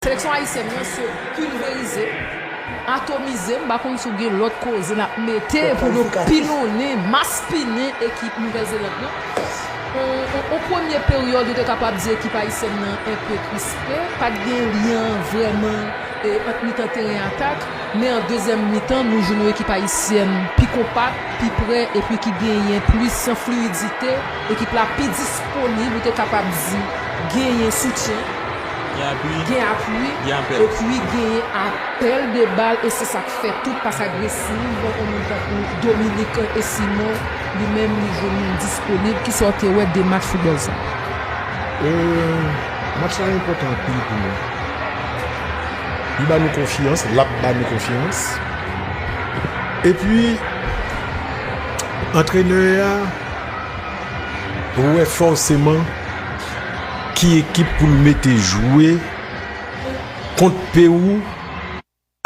Seleksyon ayisyèn lan se pilverize, atomize, m pa konn si w gen lòt koze n ap mete pou nou pilonnen, maspinen ekip Nouvèl Zeland lan. On premye peryòd ou te kapab di ekip ayisyèn lan enpe krispe, pa t gen lyen vrèman ant mitan teren atak, men an dezyèm mitan nou jwenn yon ekip ayisyèn pi konpak, pi pre epi ki genyen plis fliyidite, ekip la pi disponib ou te kapab di genyen soutyen. Gen apui, epi genyen apèl de bal e se sa k fè tout pas agresiv yon moun tankou Dominique e Simon li menm li jwenn moun disponib. Ki sa w te wè de match foutbòl sa a? Match la enpòtan anpil pou nou. Li ba nou konfyans, l ap ba nou konfyans. Epi, antrenè a wè fòseman. ki ekip pou l mete jwe kont Pewou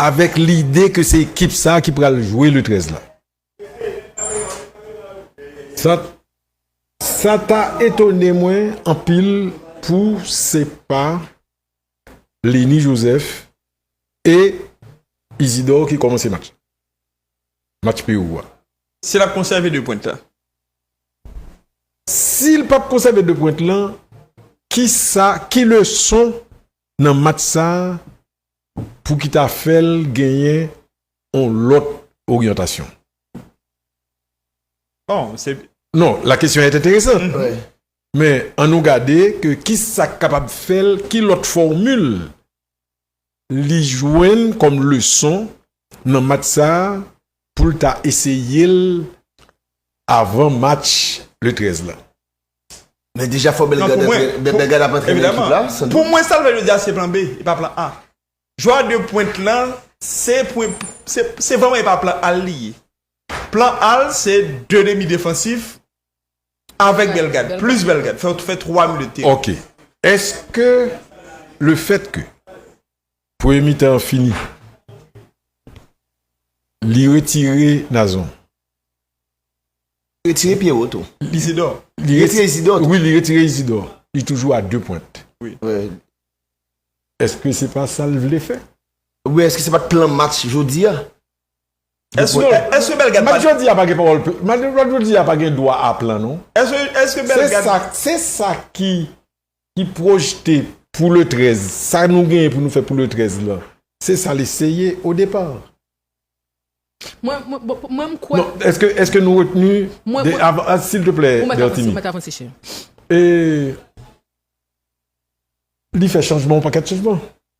avèk lide ke se ekip sa a ki pral jwe le 13 la. Sa ta etone mwen anpil pou se pa Leny Joseph e Isidor ki kòmanse match la, match Pewou a. Si l ap konsève 2 pwent la. Si l pap konsève 2 pwent lan, ki sa, ki leson nan match sa pou ki ta fè l genyen on lòt oryantasyon? Bon, se. Non, la kesyon est intéressante. Men, an nou gade ke ki sa k kapab fè l, ki lòt fòmil li jwenn kòm leson nan match sa pou l ta eseye l avan match le 13 la. Men deja fò Bellegarde ap antre nan ekip la, Sandro. Pou mwen sa l fè jodi a se plan B, e pa plan A. Jwè a 2 pwent lan se se vrèman e pa plan A l li ye. Plan A l se 2 demi defansif Avèk bèl gad, plis bèl gad. Fè fè 3 minit te. Ok. Eske le fèt ke premye mitan an fini li retire Nazon? Li retire Pierrot tou. Isidò. Li retire Isidò tou. Wi, li retire Isidò. Li toujou a 2 pwent. Wi. Eske se pa sa l vle fè? Oubyen eske se pa t plan match jodi a? Eske eske Belgad pat. Mat jodi a pa gen pawòl pla mat mat jodi a pa gen dwa a plan non. Eske eske Belgad. Se sa se sa ki ki pwojte pou le 13 sa nou genyen pou nou fè pou le 13 lan se sa li se ye o depar. Mwen mwen bon mwen m kwè. Non eske eske nou retni Mwen de mwen av a silteplè Ou mèt avanse Bertinie. ou mèt avanse cheri. E li fè chanjman yon pakèt chanjman.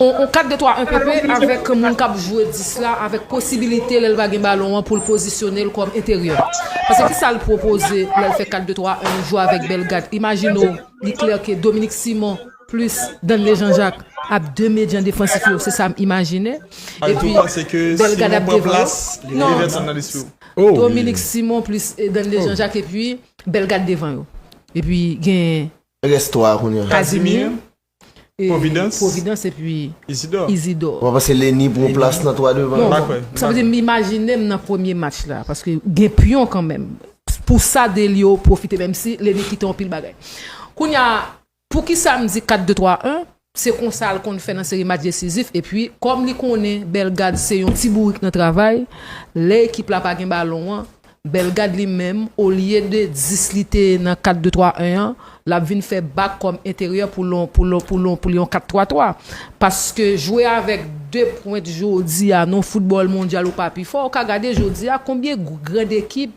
On 4 2 3 1 PP avèk moun k ap jwe 10 la avèk posibilite lè l pa gen balon an pou l pozisyone l kòm enteryè. Pase ki sa l pwopoze lè l fè 4 2 3 1 jwe avèk Bellegarde. Imajine w li klè ke Dominique Simon plis Danley Jean Jacques ap 2 medyan defansif yo se sa m imajine. Epi Bellegarde ap devan yo. Non Dominique Simon plis Danley Jean Jacques epi Bellegarde devan yo. Epi gen. Rès 3 a kounye a. Kazimir, Pwovidans, Pwovidans epi Izidò. Izidò. Mwen panse Leni pran yon plas nan 3 devan. Non, non. Sa vle di m imajine m nan premye match la paske gen pyon kanmenm. Pou sa Delio pwofite menmsi Leni kite yon pil bagay. Kounye a, poukisa m di 4-2-3-1? Se konsa l konn fè nan seri match desizif epi kòm li konnen Bellegarde se yon ti bourik nan travay, lè ekip la pa gen balon an, Bellegarde li menm olye de 10 li te nan 4 2 3 1 an, l ap vin fè bak kòm enteryè pou l pou l yon 4 3 3. Paske jwe avèk 2 pwent jodi a nan yon foutbòl mondyal ou pa pi fò, ou ka gade jodi a konbyen grand ekip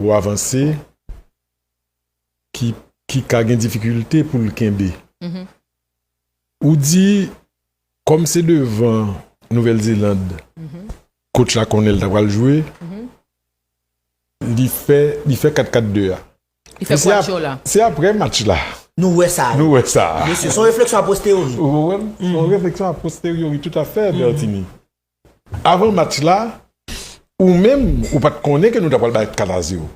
Pou avanse, ki ki ka gen difikilte pou l kenbe. Ou di, kòm se devan Nouvèl Zeland kotch la konnen l ta pral jwe, li fè li fè kat kat de a. Li fè kwatcho la. Se aprè match la. Nou wè sa. Nou wè sa. Mesye, s on refleksyon a posteriori. Ou konprann? S on refleksyon a posteriori toutafè, Bertinie. Avan match la, ou menm, ou pa t konnen ke nou ta pral bay 4 a 0.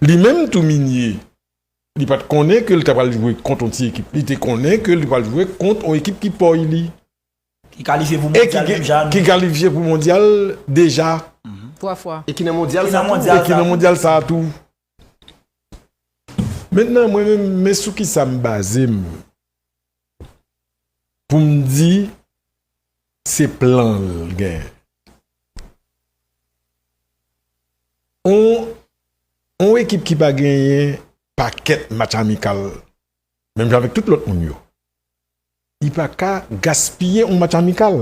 Li menm tou, Migne, li pa t konnen ke li ta pral jwe kont yon ti ekip. Li te konnen ke li pral jwe kont yon ekip ki pòy li. Ki kalifye pou mondyal menm jan a nou. Ki kalifye pou mondyal deja. E ki nan mondyal sa a tou. Mentnan mwen menm men sou kisa m baze m pou m di se plan l gen. On ekip ki pa genyen pakèt match amikal menm jan avèk tout lòt moun yo, li pa ka gaspiye on match amikal.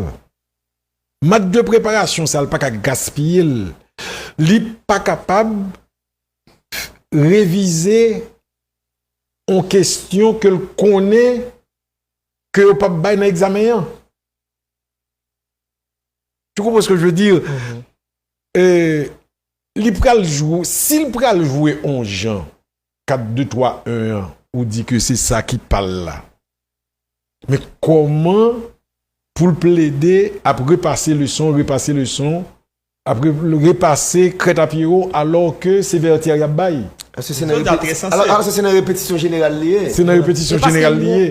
Mat de preparasyon sa l pa ka gaspiye l, li pa kapab revize yon kesyon ke l konnen ke yo p ap bay nan egzamen an. Tu konprann se ke je ve dir? Li pral jwe, si l pral jwe yon jan. 4 2 3 1 an ou di ke se sa ki pal la men kòman poul plede ap repase leson repase leson ap repase krèt a pyero alò ke se vètyè yap bay. Alò se se nan repetisyon jeneral li ye? Se nan repetisyon jeneral li ye.